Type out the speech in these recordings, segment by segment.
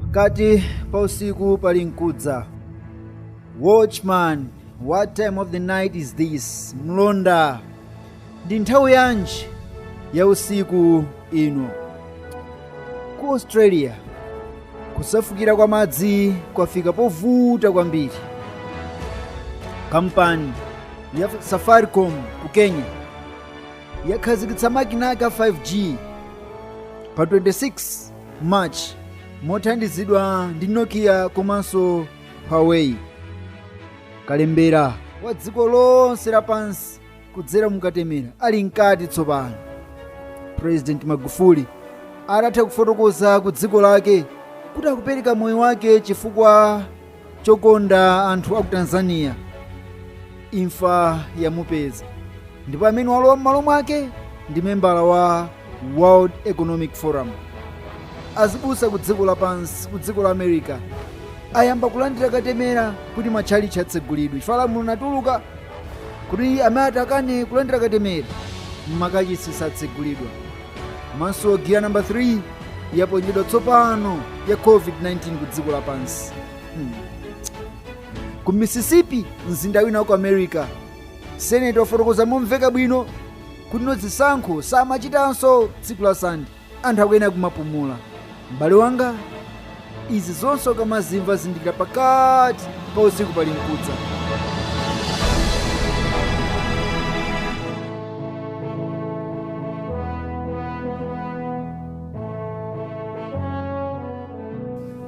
pakati pa usiku pali mkudza watchman what time of the night is this mlonda ndi nthawi yanji ya usiku ino ku australia kusefukira kwa madzi kwafika povuta kwambiri kampani ya safaricom ku kenya yakhazikitsa makina ake a 5g pa 26 March mothandizidwa ndi Nokia komanso Huawei. Kalembera wa dziko lonse lapansi kudzera mu katemera ali mkati tsopano. President Magufuli adatha kufotokoza ku dziko lake kuti akupereka moyo wake chifukwa chokonda anthu a ku tanzania imfa yamupeza ndipo amene walowa m'malo mwake ndi membala wa world economic forum azibusa ku dziko lapansi ku dziko la america ayamba kulandira katemera kuti matchalitchi atsegulidwe chifukwa lamulo linatuluka kuti amene atakane kulandira katemera m'makachisi satsegulidwa komanso giya namba 3 yaponyedwa tsopano ya covid-19 ku dziko lapansi hmm. ku mississippi mzinda wina wa ku america seneti wafotokoza momveka bwino kuti no zisankho samachitanso tsiku la sande anthu akuyenera kumapumula m'bale wanga izi zonse ukamazimva zindikira pakati pa usiku pali mkudza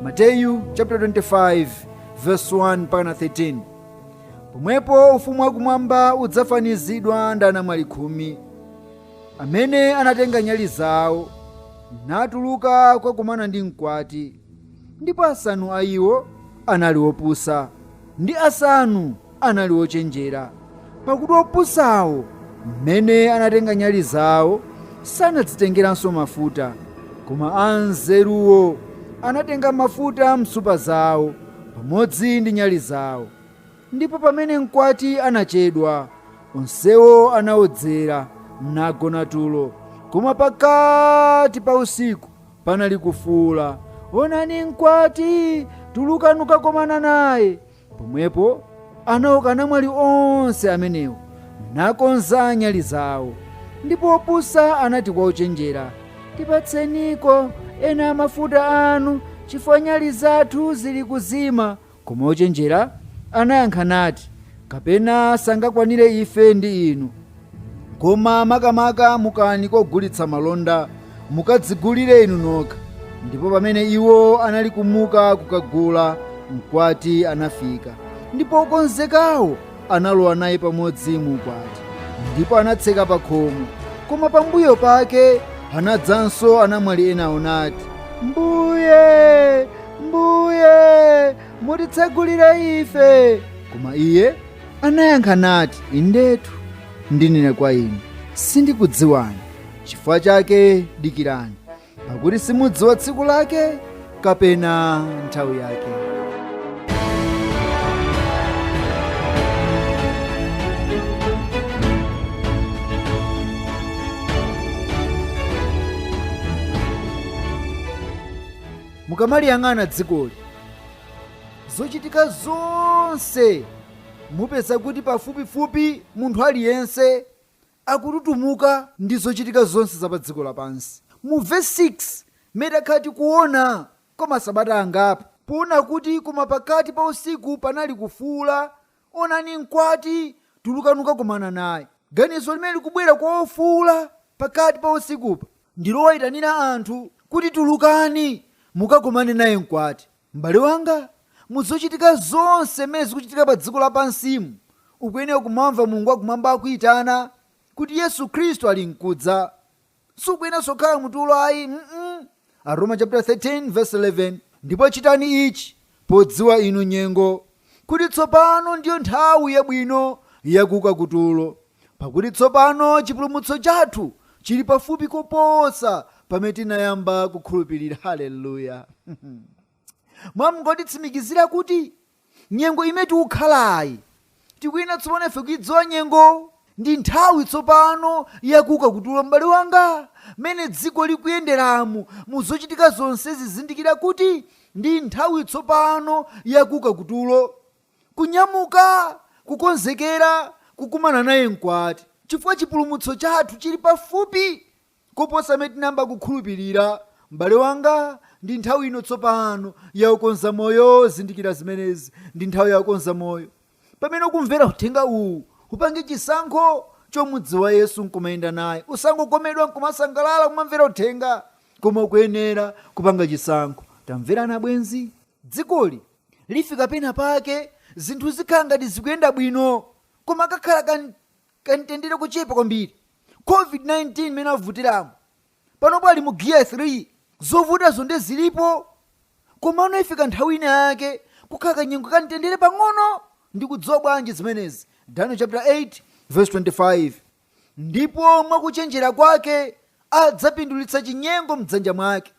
mateyu chapter 25 verse 1 mpaka 13 pomwepo ufumu wakumwamba udzafanizidwa ndi anamwali khumi amene anatenga nyali zawo natuluka kukakumana ndi mkwati ndipo asanu a iwo anali opusa ndi asanu anali ochenjera pakuti opusawo mmene anatenga nyali zawo sanadzitengeranso mafuta koma anzeruwo anatenga mafuta m'nsupa zawo pamodzi ndi nyali zawo Ndipo pamene mkwati anachedwa, onsewo anaodzera, nagona tulo. Koma pakati pa usiku panali kufuula, Onani mkwati! Tulukani kukakomana naye. Pomwepo anauka anamwali onse amenewo, nakonza nyali zawo. Ndipo opusa anati kwa ochenjera, Tipatseniko ena a mafuta anu, chifukwa nyali zathu zili kuzima. Koma ochenjera anayankha nati, Kapena sangakwanire ife ndi inu. Koma makamaka mukani kwa ogulitsa malonda, mukadzigulire inu nokha. Ndipo pamene iwo anali kumuka kukagula, mkwati anafika, ndipo okonzekawo analowa naye pamodzi mu ukwati ndipo anatseka pa khomo koma pambuyo pake anadzanso anamwali enawo nati mbuye mbuye mutitsegulire ife koma iye anayankha nati indetu ndinena kwa inu sindikudziwani chifukwa chake dikirani pakuti simudziwa tsiku lake kapena nthawi yake mukamaliyang'ana dzikoli zochitika zonse mupeza kuti pafupifupi munthu aliyense akututumuka ndi zochitika zonse za pa dziko lapansi. Mu vesi 6, m'mene takhala tikuona kwa masabata angapo, poona kuti koma pakati pa usiku panali kufuula, Onani mkwati, tulukani kukakomana naye. Ganizo limene likubwera kwa ofuula pakati pa usikupa ndi lowayitanira anthu kuti tulukani mukakomane naye mkwati. M'bale wanga, mu zochitika zonse m'mene zikuchitika pa dziko lapansimu, ukuyenera kumamva Mulungu wa Kumwamba akuitana, kuti Yesu Khristu ali nkudza. Sukuyeneranso kukhala mu tulo ayi, mm Aroma chaputala 13 vesi 11, ndipo chitani ichi podziwa inu nyengo. kuti tsopano ndiyo nthawi yabwino yakuuka kutulo, pakuti tsopano chipulumutso chathu chili pafupi koposa pamene tinayamba kukhulupirira. Haleluya! Mwamungotitsimikizira kuti nyengo imene tikukhalayi tikuyenera tsopano ife kuidziwa nyengo Ndi nthawi tsopano ya kuuka kutulo, m'bale wanga. Mmene dziko likuyenderamu, mu zochitika zonsezi, zindikira kuti ndi nthawi tsopano ya kuuka kutulo. Kunyamuka, kukonzekera kukumana naye Mkwati, chifukwa chipulumutso chathu chiri pafupi. koposa m'mene tinayamba kukhulupirira, m'bale wanga, ndi nthawi ino tsopano ya kukonza moyo, zindikira zimenezi, ndi nthawi ya kukonza moyo. Pamene ukumvera uthenga uwu, upange chisankho chomudziwa Yesu nkumayenda naye. Usangokomedwa nkumasangalala kumamvera uthenga, koma ukuyenera kupanga chisankho. Tamverani abwenzi, dzikoli lifika pena pake zinthu zikhala ngati zikuyenda bwino, koma kakhala ka, kamtendere kochepa kwambiri covid-19 imene avutiramo panopo ali mu giya 3 zovutazo nde zilipo komano ifika nthawi ina yake kukhala kanyengo kamtendere pang'ono ndi kudziwa bwanji zimenezi daniel chapter 8 verse 25 ndipo mwakuchenjera kwake adzapindulitsa chinyengo mdzanja mwake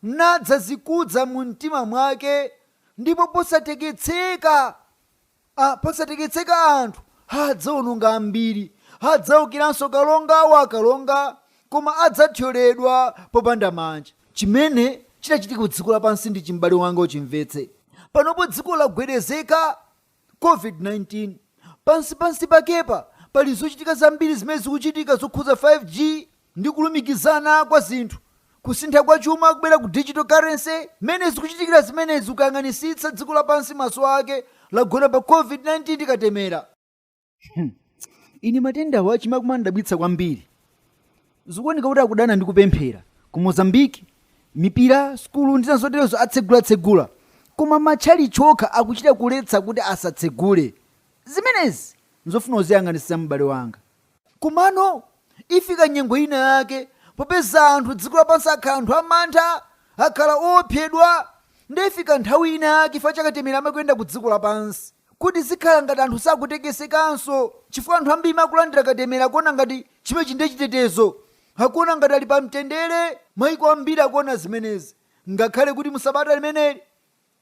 nadzazikudza mu mtima mwake ndipo posatekeseka Posatekeseka anthu adzaononga ambiri, adzaukiranso kalonga wa akalonga, koma adzathyoledwa popanda manja. Chimene chitachitika ku dziko lapansi ndi ichi, m'bale wanga, uchimvetse. Panopo dziko lagwedezeka, COVID-19. Pansi pansi pakepa pali zochitika zambiri zimene zikuchitika zokhudza 5G, ndi kulumikizana kwa zinthu, kusintha kwa chuma kubwera ku digital currency, mmene zikuchitikira zimenezi ukayang'anisitsa dziko lapansi maso ake lagona pa covid 19 ndi katemera. Hmm. Ine matendawa amandidabwitsa kwambiri. Zikuoneka kuti akudana ndi kupemphera. Ku Mozambique, mipira, sukulu ndi zazoterezo atsegulatsegula. Koma matchalitchi okha akuchita kuletsa kuti asatsegule. Zimenezi nzofuna uziyang'anisitsa m'bale wanga. Komano, ifika nyengo ina yake popeza anthu dziko lapansi akhala anthu amantha, akhala oopsedwa, nde ifika nthawi ina yake chifukwa cha katemera amene akuyenda ku dziko lapansi kuti zikhala ngati anthu sakutekesekanso chifukwa anthu ambiri amene akulandira katemera akuona ngati chimenechi nde chitetezo, akuona ngati ali pa mtendere, maiko ambiri akuona zimenezi ngakhale kuti mu sabata limeneli.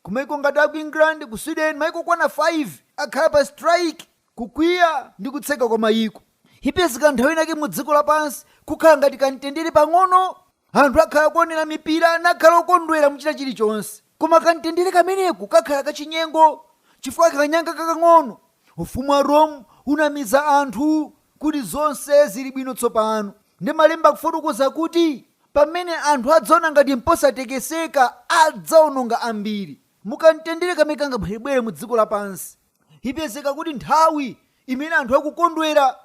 Kumaiko ngati aku England, ku Sweden maiko okwana 5 akhala pa strike kukwiya ndi kutseka kwa maiko. Ipezeka nthawi inayake mu dziko lapansi kukhala ngati kamtendere pang'ono. Anthu akhala akuonera mipira nakhala okondwera muchita chilichonse. Koma kamtendere kameneko kakhala kachinyengo chifukwa kanyanga kakang'ono, ufumu wa Rome, unamiza anthu kuti zonse zili bwino tsopano. Ndi Malemba akufotokoza kuti pamene anthu adzaona ngati mposatekeseka, adzaononga ambiri. Mu kamtendere kamene kangabwerebwere mu dziko lapansi, ipezeka kuti nthawi imene anthu akukondwera,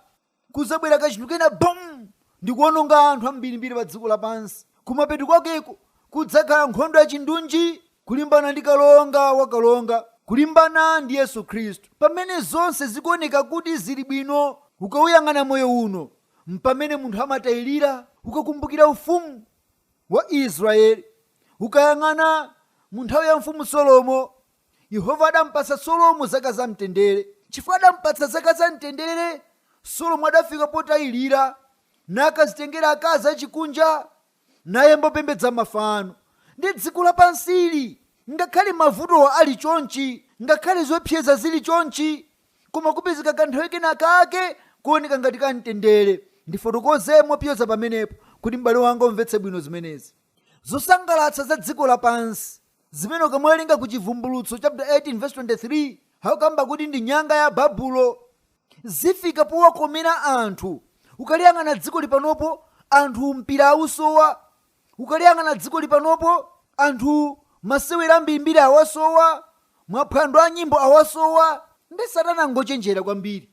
kudzabwera kachinthu kena bom! ndikuononga anthu ambirimbiri pa dziko lapansi. Kumapeto kwakeko kudzakhala nkhondo ya chindunji, kulimbana ndi kalonga wa akalonga, kulimbana ndi Yesu Khristu. Pamene zonse zikuoneka kuti zili bwino ukauyang'ana moyo uno, mpamene munthu amatailira. Ukakumbukira ufumu wa Israele, ukayang'ana mu nthawi ya mfumu Solomo, Yehova adampatsa Solomo zaka zamtendere. Chifukwa adampatsa zaka zamtendere, Solomo adafika potailira, nakadzitengera akazi achikunja naye mbopembedza mafano, ndiye dziko lapansili, ngakhale mavutowa ali chonchi, ngakhale zoepseza zili chonchi, koma kupezeka kanthawi kena kake kooneka ngati kamtendere. Ndifotokoze mopyoza pamenepo kuti m'bale wanga umvetse bwino zimenezi. Zosangalatsa za dziko lapansi, zimene ukamwerenga ku Chivumbulutso chaputala 18 vesi 23, akukamba kuti ndi nyanga ya Babulo. zifika powakomera anthu ukaliyang'ana dziko lipanopo anthu mpira awusowa ukaliyang'ana dziko lipanopo anthu masewera ambirimbiri awasowa maphwando a nyimbo awasowa ndiye satana ngochenjera kwambiri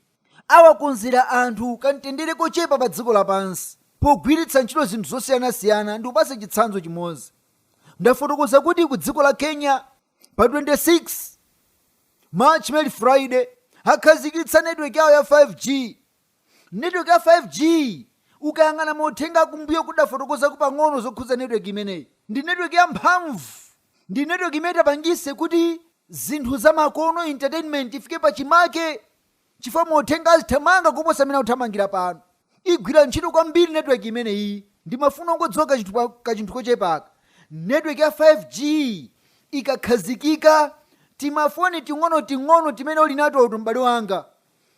awakonzera anthu kamtendere kochepa pa dziko lapansi pogwiritsa ntchito zinthu zosiyanasiyana ndikupatse chitsanzo chimodzi ndafotokoza kuti ku dziko la kenya pa 26 March muno Friday akhazikitsa network yawo ya 5G. Network ya 5G ukayang'ana mauthenga akumbuyo tidafotokozako pang'ono zokhudza network imeneyi. Ndi network ya mphamvu. Ndi network imene itapangise kuti zinthu zamakono entertainment ifike pachimake. chifukwa mauthenga azithamanga koposa amene akuthamangira pano. Igwira ntchito kwambiri network imeneyiyi ndimafuna ungodziwa kachinthu kochepa aka. Network ya 5G ikakhazikika timafoni ting'onoting'ono timene uli natoti m'bale wanga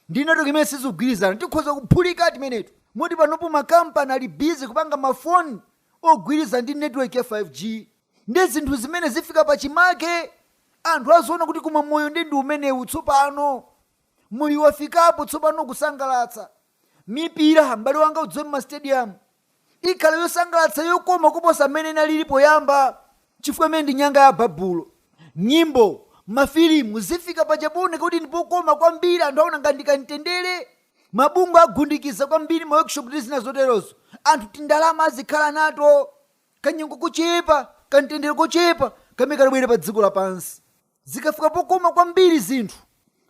ndi network imene sizikugwirizana tikhoza kuphulika timeneti moti panopo makampani ali busy kupanga mafoni ogwirizana ndi network ya 5G. Ndiye zinthu zimenezi zifika pachimake, anthu aziona kuti koma moyo ndiye ndi umenewu tsopano. Moyo wafikapo tsopano kusangalatsa. Mipira, m'bale wanga udziwe m'masitediyamu, ikhala yosangalatsa yokoma kuposa mmene inalili poyamba chifukwa imeneyi ndi nyanga ya Babulo. Nyimbo, mafilimu zifika paja pooneka kuti ndi pokoma kwambiri, anthu aona ngati ndi kamtendere. Mabungwe agundikiza kwambiri maworkshop ndi zina zoterozo, anthu tindalama azikhala nato. Kanyengo kochepa, kamtendere kochepa kamene katabwere padziko lapansi. Zikafika pokoma kwambiri zinthu,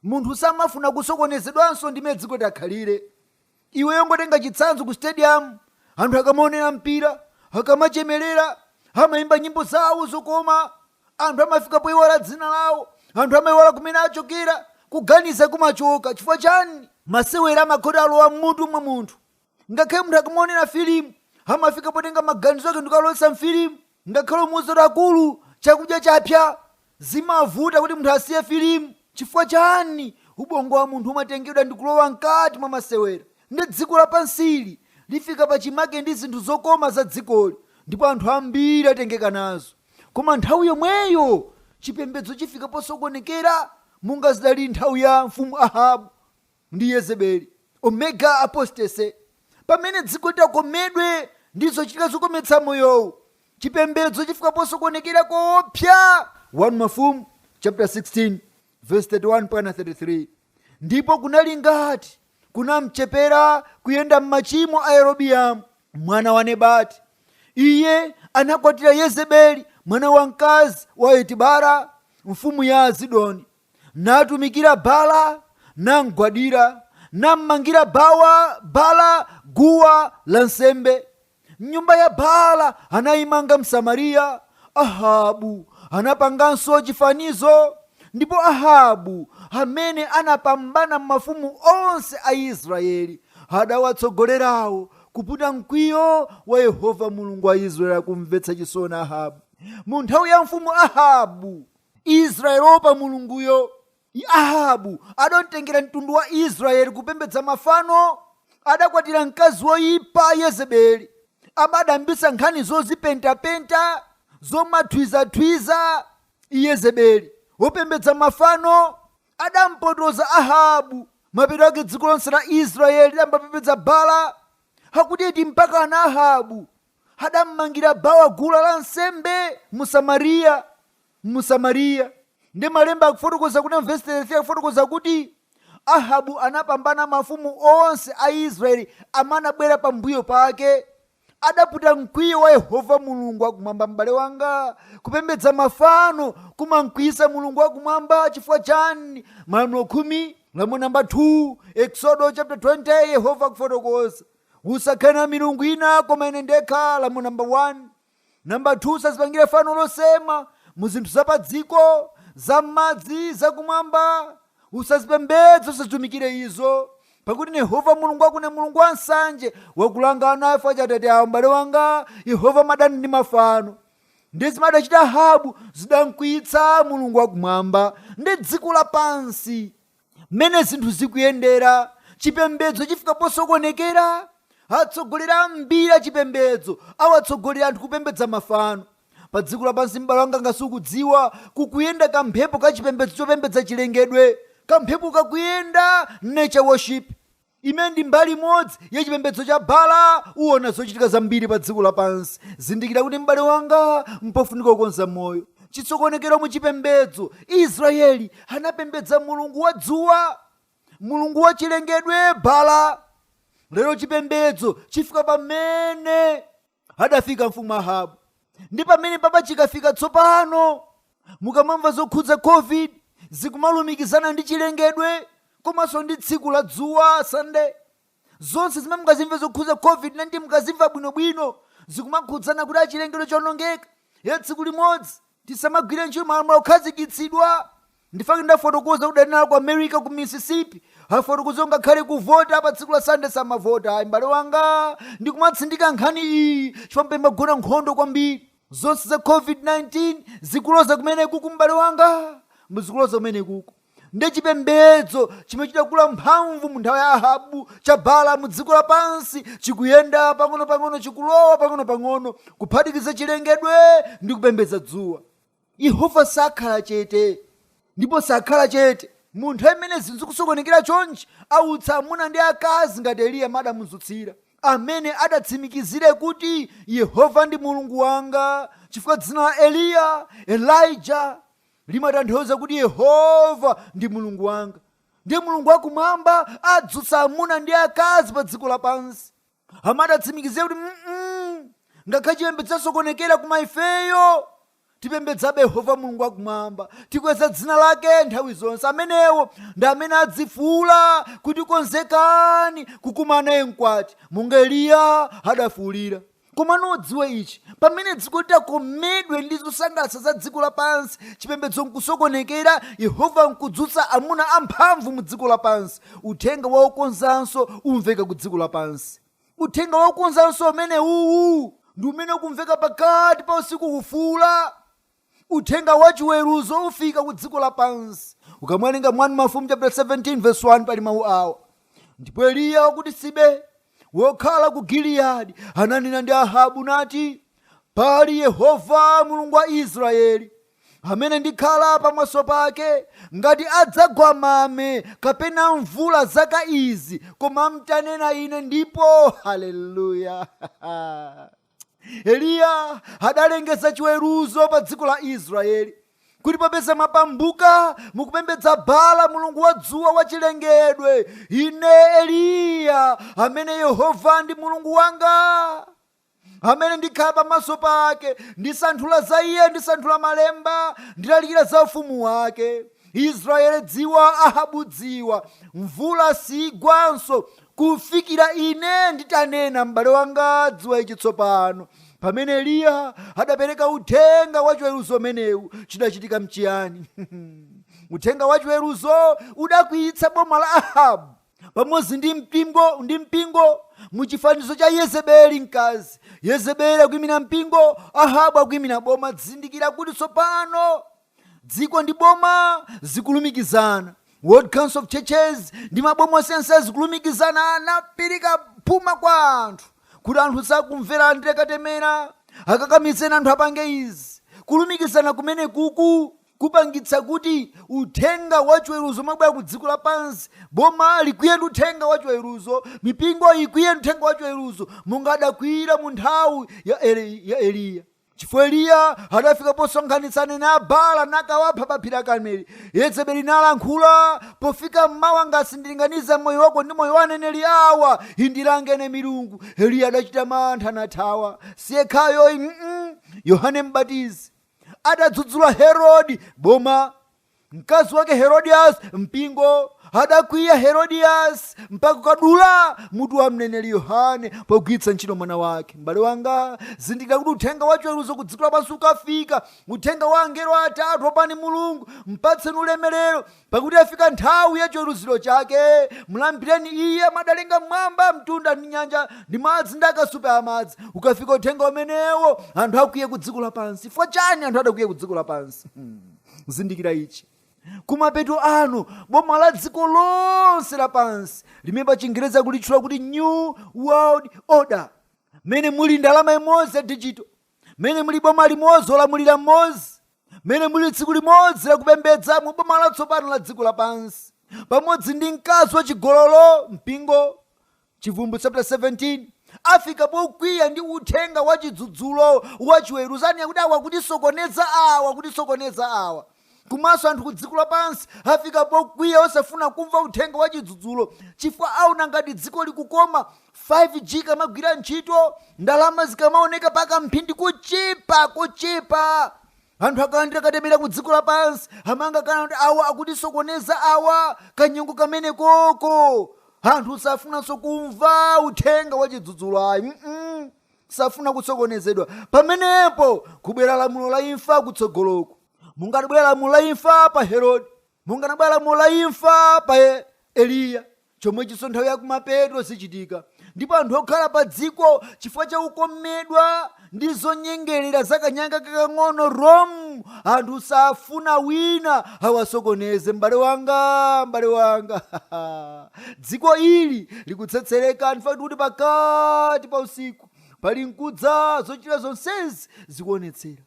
munthu samafuna kusokonezedwanso ndi mmene dziko liti akhalire. Iweyo ungotenga chitsanzo kusitediyamu, anthu akamaonera mpira, akamachemerera, amaimba nyimbo zawo zokoma, anthu amafika poiwala dzina lawo, anthu amaiwala kumene achokera, kuganiza kumachoka. Chifukwa chani? Masewera amakhala atalowa m'mutu mwa munthu. ngakhale munthu akamaonera filimu amafika potenga maganizo ake ndikuwalowetsa mfilimu ngakhale umuuze kuti akulu chakudya chapsa zimavuta kuti munthu asiye filimu chifukwa chani ubongo wa munthu umatengedwa ndikulowa mkati mwa masewera ndiye dziko lapansili lifika pachimake ndi zinthu zokoma za dzikoli ndipo anthu ambiri atengeka nazo koma nthawi yomweyo chipembedzo chifika posokonekera monga zidali nthawi ya mfumu ahabu ndi Yezebeli, Omega Apostasy, pamene dziko litakomedwe ndi zochitika zokometsa moyowu, chipembedzo chifika posokonekera koopsa 1 Mafumu chaputala 16 vesi 31 mpaka 33 ndipo kunali ngati kunamchepera kuyenda m'machimo a Yerobiamu mwana wa Nebati. Iye anakwatira Yezebeli mwana wamkazi wa Etibara mfumu ya Asidoni. natumikira Baala, namgwadira, nammangira Baala guwa la nsembe m'nyumba ya Baala anayimanga m'Samariya. Ahabu anapanganso chifanizo, ndipo Ahabu, amene anapambana mafumu onse a Israeli, adawatsogolerawo kuputa mkwiyo wa Yehova Mulungu wa Israeli. Zomvetsa chisoni Ahabu mu nthawi ya mfumu Ahabu. Israyeli oopa Mulunguyo. Ahabu adamtengera mtundu wa Israyeli kupembedza mafano, adakwatira mkazi woipa Yezebeli, amene adayambitsa nkhani zozipentapenta, zomathwizathwiza, Yezebeli, wopembedza mafano, adampotoza Ahabu, mapeto ake dziko lonse la Israyeli lidayamba kupembedza Bala, akuti mpakana Ahabu adammangira Baala guwa la nsembe mu Samariya mu Samariya ndi malemba akufotokoza kuti mvesi 33 akufotokoza kuti Ahabu anapambana mafumu onse a Israeli amene anabwera pambuyo pake adaputa mkwiyo wa Yehova Mulungu wakumwamba m'bale wanga kupembedza mafano kumamkwiyisa Mulungu wakumwamba chifukwa chani malamulo khumi lamulo namba 2 Exodo chapter 20 Yehova akufotokoza usakhale na milungu ina koma ine ndekha lamulo namba 1 namba 2 usazipangire fano losema mu zinthu za padziko za m'madzi za kumwamba usazipembedze usazitumikire izo pakuti yehova mulungu wako ni mulungu wa nsanje wakulanga ana chifukwa cha atate awo m'bale wanga yehova amadana ndi mafano ndi zimene adachita Ahabu zidamkwiyitsa mulungu wakumwamba ndi dziko lapansi Mmene zinthu zikuyendera, chipembedzo chifika posokonekera. Atsogoleri ambiri achipembedzo awatsogolera anthu kupembedza mafano. Padziko lapansi, m'bale wanga, ngati sukudziwa, kukuyenda kamphepo ka chipembedzo chopembedza chilengedwe. Kamphepo kakuyenda, nature worship. Imene ndi mbali imodzi ya chipembedzo cha Baala uona zochitika zambiri pa dziko lapansi. Zindikira kuti m'bale wanga, mpofunika kukonza moyo. Chisokonekero mu chipembedzo, Israyeli anapembedza mulungu wa dzuwa, mulungu wa chilengedwe Baala. Lero chipembedzo chifika pamene. adafika mfumu ahabu ndi pamene papa chikafika tsopano mukamamva zokhudza covid zikumalumikizana ndi chilengedwe komanso ndi tsiku la dzuwa sande zonse zimene mukazimva zokhudza covid-19 mukazimva bwinobwino zikumakhudzana kuti achilengedwe chawonongeka ya tsiku limodzi tisamagwire ntchito malamulo okhazikitsidwa nchifukwa chake ndafotokoza kuti adanena ku america ku mississippi afotokoza kuti ngakhale kuvota pa tsiku la sande samavota ayi m'bale wanga ndikumatsindika nkhani iyi chifukwa pamagona nkhondo kwambiri zonse za covid-19 zikuloza kumene kuku m'bale wanga muzikuloza kumene kuku ndi chipembedzo chimene chidakula mphamvu mu nthawi ya ahabu cha baala mu dziko lapansi chikuyenda pang'ono-pang'ono chikulowa pang'ono-pang'ono kuphatikiza chilengedwe ndi kupembedza dzuwa Yehova sakhala chete, ndipo sakhala chete. Mu nthawi imene zinthu zikusokonekera chonchi, autsa amuna ndi akazi ngati Eliya mmene adamudzutsira, amene adzatsimikizire kuti Yehova ndi Mulungu wanga, chifukwa dzina la Eliya, Elijah, limatanthauza kuti Yehova ndi Mulungu wanga. Ndiye Mulungu wakumwamba adzutsa amuna ndi akazi pa dziko lapansi. amene adzatsimikizire kuti mm ngakhale chipembedzo chasokonekera koma ifeyo tipembedzabe yehova mulungu wakumwamba tikweza dzina lake nthawi zonse amenewo ndi amene azifuula kuti konzekani kukumana naye mkwati monga eliya adafuulira koma ndiye dziwa ichi pamene dziko litakomedwe ndi zosangalatsa za dziko lapansi chipembedzo nkusokonekera yehova nkudzutsa amuna amphamvu mu dziko lapansi uthenga wa okonzanso umveka ku dziko lapansi uthenga wa okonzanso umene uwu ndi umene ukumveka pakati pa usiku kufuula uthenga wa chiweruzo ufika ku dziko lapansi ukamwerenga mu wani mafumu chapter 17 verse 1 pali mawu awa ndipo eliya wa ku tisibe wokhala ku giliyadi ananena ndi ahabu nati pali yehova mulungu wa israeli amene ndikhala pamaso pake, ngati adzagwa mame kapena mvula zaka izi, koma mtanena ine ndipo. Haleluya! Eliya adalengeza chiweruzo pa dziko la Israeli kuti popeza mwapanduka mukupembedza Baala mulungu wa dzuwa wa chilengedwe, ine Eliya amene Yehova ndi mulungu wanga amene ndikhala pamaso pake ndisanthula za iye ndisanthula malemba ndilalikira za ufumu wake israeli dziwa ahabu dziwa mvula siigwanso kufikira ine nditanena m'bale wanga dziwa ichi tsopano pamene eliya adapereka uthenga wachiweruzo umenewu chidachitika nchiyani uthenga wachiweruzo udakwiyitsa boma la ahabu pamodzi ndi mpingo ndi mpingo mu chifanizo cha yezebeli mkazi yezebeli akuyimira mpingo ahabu akuyimira boma zindikira kuti tsopano dziko ndi boma zikulumikizana world council of churches ndi maboma osiyanasiyana zikulumikizana anapirika phuma kwa anthu kuti anthu sakumvera andire katemera akakamizeni anthu apange izi kulumikizana kumene kuku kupangitsa kuti uthenga wa chiweruzo ukamabwera ku dziko lapansi boma likwiye ndi uthenga wa chiweruzo mipingo ikwiye ndi uthenga wa chiweruzo monga adakwiyira mu nthawi ya, Eli, ya eliya chifukwa eliya adafika posonkhanitsa aneneri a baala nakawapha pa phiri la karmeli yezebeli nalankhula pofika mmawa ngati sindilinganiza moyo wako ndi moyo wa aneneri awa indilangene milungu eliya adachita mantha nathawa siyekhayoyi mm yohane mbatizi adadzudzula herodi boma mkazi wake herodias mpingo adakwiya herodias mpaka kukadula mutu wa mneneri yohane pogwiritsa ntchito mwana wake m'bale wanga zindikira kuti uthenga wachiweruzo ku dziko lapansi ukafika uthenga wa angelo atatu opani mulungu mpatseni ulemerero Pakuti yafika nthawi ya chiweruziro chake, mlambireni Iye amene adalenga m'mwamba, mtunda ndi nyanja, ndi madzi ndi akasupe a madzi. Ukafika uthenga umenewo, anthu akwiya ku dziko lapansi. Chifukwa chani anthu adakwiya ku dziko lapansi? Hmm. Zindikira ichi. Kumapeto ano, boma la dziko lonse lapansi, limene pa chingerezi akulitchula kuti New World Order, mmene muli ndalama imodzi ya dijito, mmene muli boma limodzi, olamulira mmodzi, mmene muli tsiku limodzi la kupembedza mu boma latsopano la dziko lapansi pamodzi ndi mkazi wa chigololo mpingo chivumbulutso chapter 17 afika pokwiya ndi uthenga wa chidzudzulo wa chiweruzani akuti awa akutisokoneza awa akutisokoneza awa komanso anthu ku dziko lapansi afika pokwiya osafuna kumva uthenga wa chidzudzulo chifukwa aona ngati dziko likukoma 5G ikamagwira ntchito, ndalama zikamaoneka pa kamphindi kochepa kochepa, anthu akalandira katemera ku dziko lapansi amaona ngati kuti awa akutisokoneza awa, kanyengo kameneko ko anthu safunanso kumva uthenga wa chidzudzulo ayi mm safuna kusokonezedwa pamenepo kubwera lamulo la imfa kutsogoloku monga lidabwera lamulo la imfa pa herodi monga linabwera lamulo la imfa pa E- eliya chomwechinso nthawi yakumapeto zichitika ndipo anthu okhala pa dziko chifukwa cha kukomedwa ndi zonyengerera za kanyanga kakang'ono rom anthu safuna wina awasokoneze m'bale wanga m'bale wanga dziko ili likutsetsereka ndi pfuu lakuti pakati pa usiku pali nkudza zochita zonsezi zikuonetsera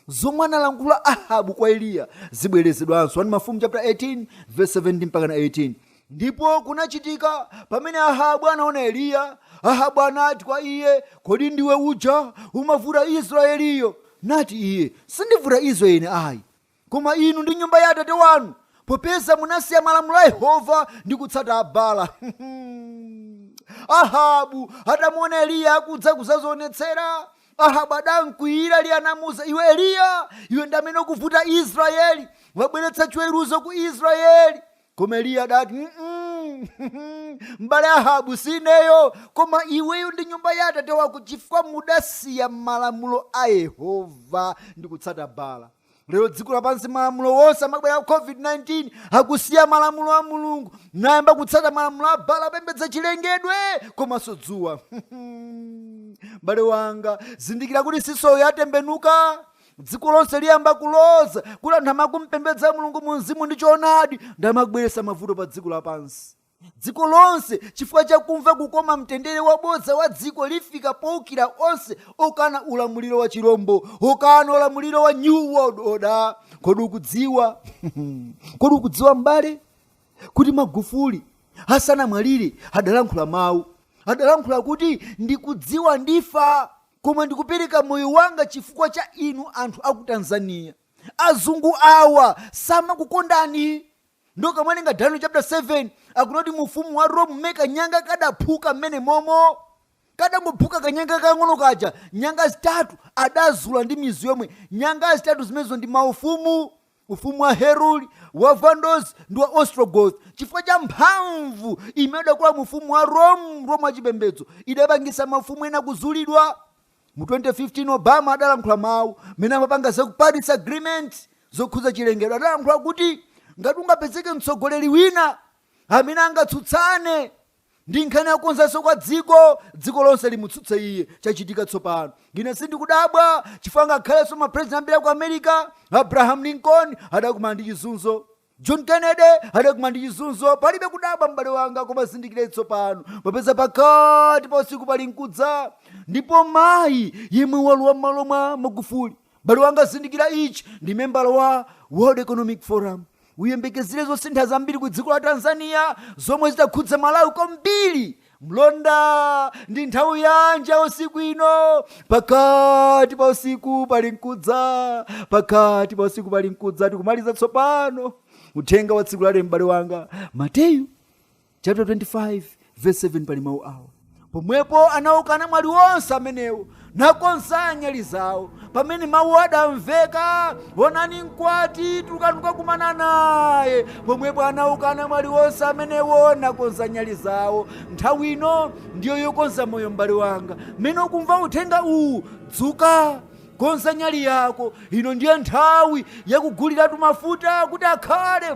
Zomwe analankhula Ahabu kwa Eliya zibwerezedwanso. 1 Mafumu chapter 18 verse 17 mpaka 18. Ndipo kunachitika pamene Ahabu anaona Eliya, Ahabu anati kwa iye, Kodi ndiwe uja umavuta Israyeliyo? Nati iye, Sindivuta Israyeli ayi, Koma inu ndi nyumba ya atate wanu, popeza munasiya malamulo a Yehova ndi kutsata Abaala. Ahabu adamuona Eliya akudza kudzadzionetsera. Ahabu adamkwiyira Eliya anamuuza iwe Eliya, iwe ndi amene ukuvuta Israeli, wabweretsa chiweruzo ku Israeli. Koma Eliya adati m'bale Ahabu sineyo, koma iweyo ndi nyumba ya atate wako, chifukwa mudasiya malamulo a Yehova ndi kutsata Bala. lero dziko lapansi malamulo onse amene abwera ku covid-19 akusiya malamulo a mulungu n'kuyamba kutsata malamulo a bala apembedza chilengedwe komanso dzuwa m'bale wanga zindikira kuti sizo yatembenuka dziko lonse liyamba kuloza kuti anthu amene akumpembedza mulungu mu mzimu ndi choonadi ndi amene akubweretsa mavuto pa dziko lapansi Dziko lonse chifukwa cha kumva kukoma mtendere wabodza wa dziko lifika poukira onse okana ulamuliro wa chirombo, okana ulamuliro wa New World Order. Kodi ukudziwa? Kodi ukudziwa m'bale kuti Magufuli asanamwalire adalankhula mawu adalankhula kuti ndikudziwa ndifa koma ndikupereka moyo wanga chifukwa cha inu anthu a ku tanzania azungu awa samakukondani ndiye tikamawerenga daniel chapter 7 akunena kuti mu ufumu wa rome mmene kanyanga kadaphuka mmene momo kadangophuka kanyanga kang'ono kaja nyanga zitatu adazula ndi mizu yomwe nyanga zitatu zimenezo ndi maufumu ufumu wa heruli wa vandals ndi wa ostrogoth chifukwa cha mphamvu imene idakula mu ufumu wa rome rome wachipembedzo idapangitsa mafumu ena kuzulidwa Mu 2015 Obama adalankhula mawu mmene amapanga za ku Paris Agreement zokhuza chilengedwe adalankhula kuti ngati angapezeke mtsogoleri wina amene angatsutsane ndi nkhani yakonzanso kwa dziko dziko lonse limutsutse iye chachitika tsopano ine sindikudabwa chifukwa ngakhalenso mapresident ambiri aku america abraham lincoln adakumana ndi chizunzo John Kennedy adakumana ndi chizunzo, palibe kudabwa m'bale wanga, koma zindikira tsopano, popeza pakati pa usiku pali nkudza, ndipo mayi yemwe walowa m'malo mwa Magufuli, m'bale wanga, zindikira ichi, ndi membala wa World Economic Forum, uyembekezere zosintha zambiri ku dziko la Tanzania zomwe zitakhudza Malawi kwambiri Mlonda, ndi nthawi yanji ya usiku ino? Pakati pa usiku pali nkudza, pakati pa usiku pali nkudza. Tikumaliza tsopano uthenga wa tsiku la lero, m'bale wanga. Mateyu chapter 25 verse 7 pali mawu awa pomwepo anauka anamwali onse amenewo nakonza nyali zawo pamene mawu adamveka onani mkwati tulukani kukakumana naye pomwepo anauka anamwali onse amenewo nakonza nyali zawo nthawi ino ndiyo yokonza moyo m'bale wanga mmene ukumva uthenga uwu dzuka konza nyali yako ino ndiye nthawi yakuguliratu mafuta kuti akhale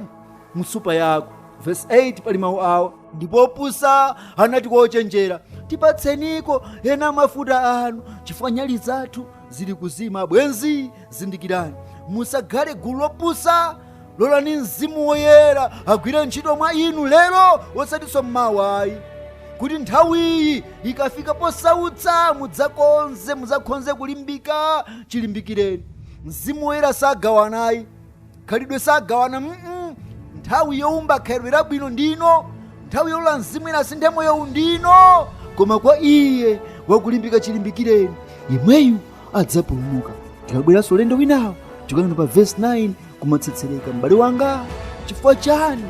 m'nsupa yako vesi 8 pali mawu awo ndipo opusa anati kwa ochenjera tipatseniko ena a mafuta anu chifukwa nyali zathu zili kuzima abwenzi zindikirani musakhale gulu lopusa lolani mzimu woyera agwire ntchito mwa inu lero osatinso mmawa ayi kuti nthawiyi ikafika posautsa mudzakonze mudzakhonze kulimbika chilimbikireni mzimu woyera sagawana ayi khalidwe sagawana mm -mm. nthawi youmba khalidwe labwino ndino nthawi yolola mzimu woyera asinthe moyowu ndino koma kwa iye wakulimbika chilimbikireni yemweyu adzapulumuka tikabweranso ulendo winawo tikuyang'ana pa vesi 9 kumatsetsereko m'bale wanga chifukwa chani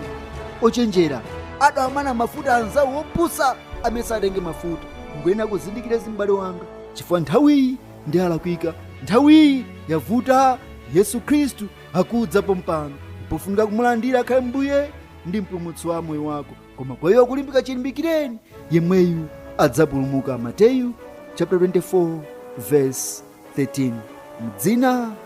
ochenjera adawamana mafuta anzawo opusa amene sanatenge mafuta ngoyenera kuzindikira izi m'bale wanga chifukwa nthawiyi ndi yolakwika nthawiyi yavuta yesu khristu akudza pompano pofunika kumulandira akhale mbuye ndi mpulumutsi wa moyo wako koma kwa iye wakulimbika chilimbikireni yemweyu adzapulumuka mateyu chapter 24 verse 13 mdzina